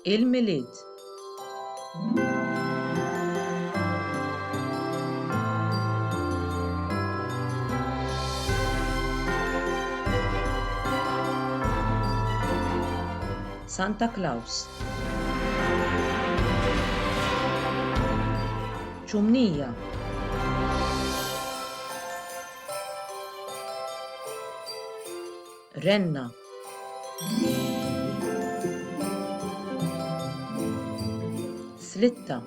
Il-Milied Santa Claus Ċumnija Renna. Slitta.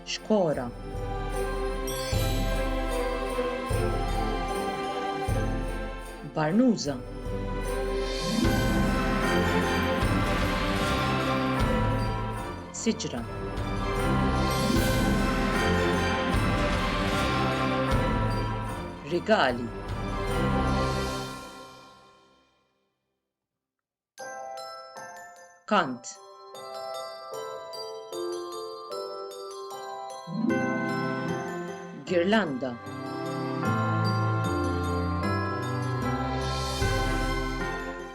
Xkora. Barnuża. Rigali. Kant. Girlanda.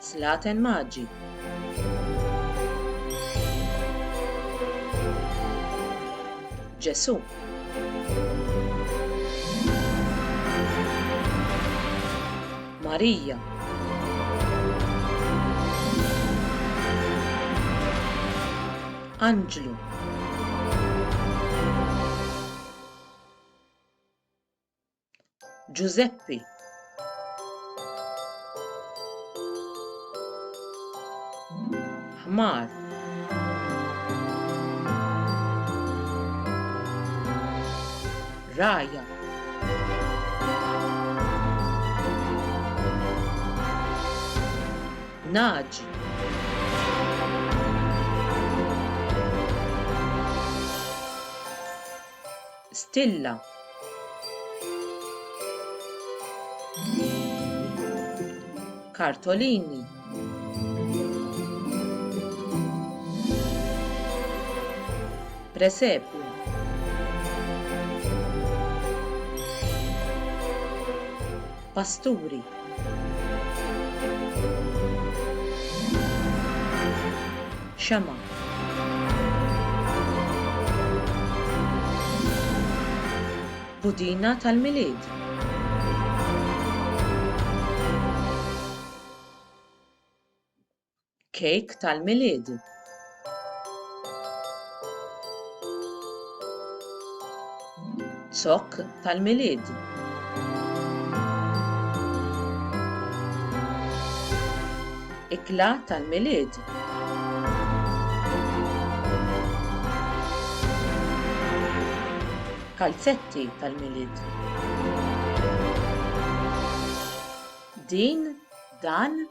Slaten Maggi. Ġesù. Marija. Anġlu. Ġużeppi. Ħmar. Raja. Naġi. stilla. kartolini. presepju. pasturi. Xema. Budina tal-Milied. Kejk tal-Milied. Zokk tal-Milied. Ikla tal-Milied. Kalzetti tal-Milied. Din, dan,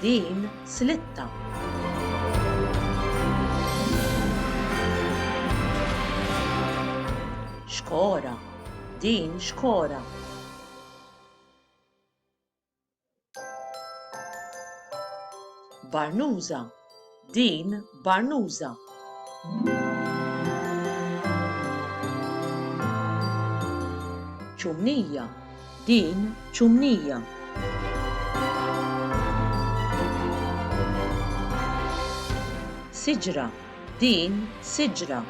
din slitta. Xkora, din xkora. Barnuża, Din barnuża. Ċumnija. Din ċumnija. Siġra. Din siġra.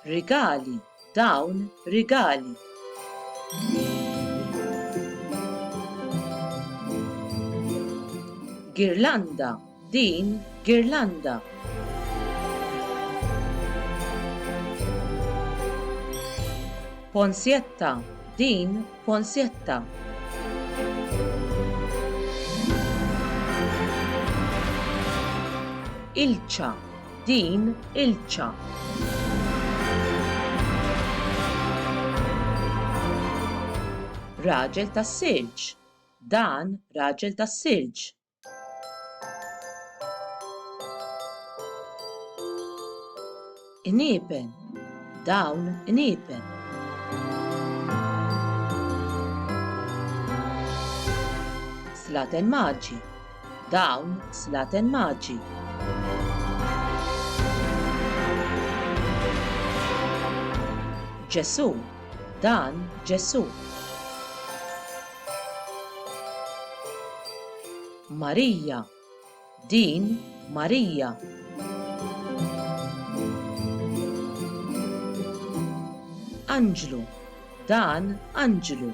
Rigali. Dawn rigali. Girlanda, din girlanda. Ponsietta, din Ponsietta. Ilċa, din ilċa. Raġel tas-silġ, dan raġel tas-silġ. Iniepen, dawn iniepen. Slaten maġi, dawn slaten maġi. Ġesù, dan Ġesù. Marija, din Marija. Anġlu, dan Anġlu.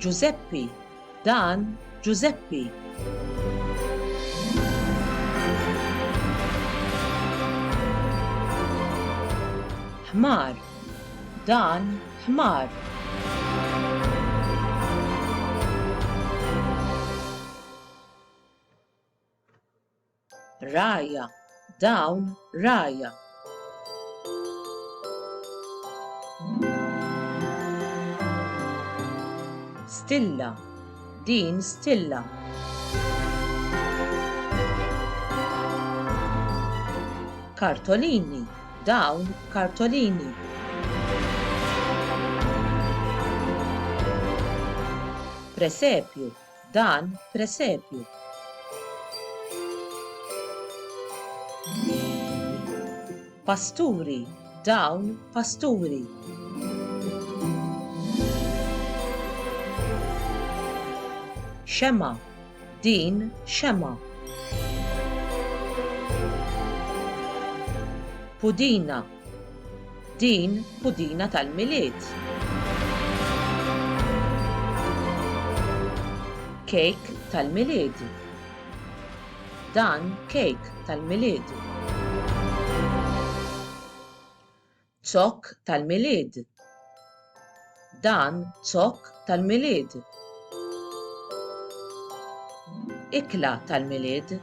Ġużeppi, Dan Ġużeppi. Ħmar. Dan Ħmar. Ragħajja, dawn ragħajja. Stilla, din stilla. Kartolini, dawn kartolini. Presepju, Dan presepju. Pasturi, dawn pasturi. Xema, din xema. Pudina, Din budina tal-Milied. Kejk tal-Milied. Dan kejk tal-Milied. Zokk tal-Milied. Dan zokk tal-Milied. Ikla tal-Milied.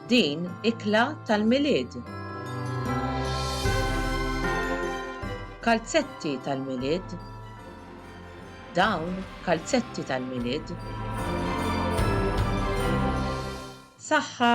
Din ikla tal-Milied. Kalzetti tal-Milied. Dawn kalzetti tal-Milied. Saħħa!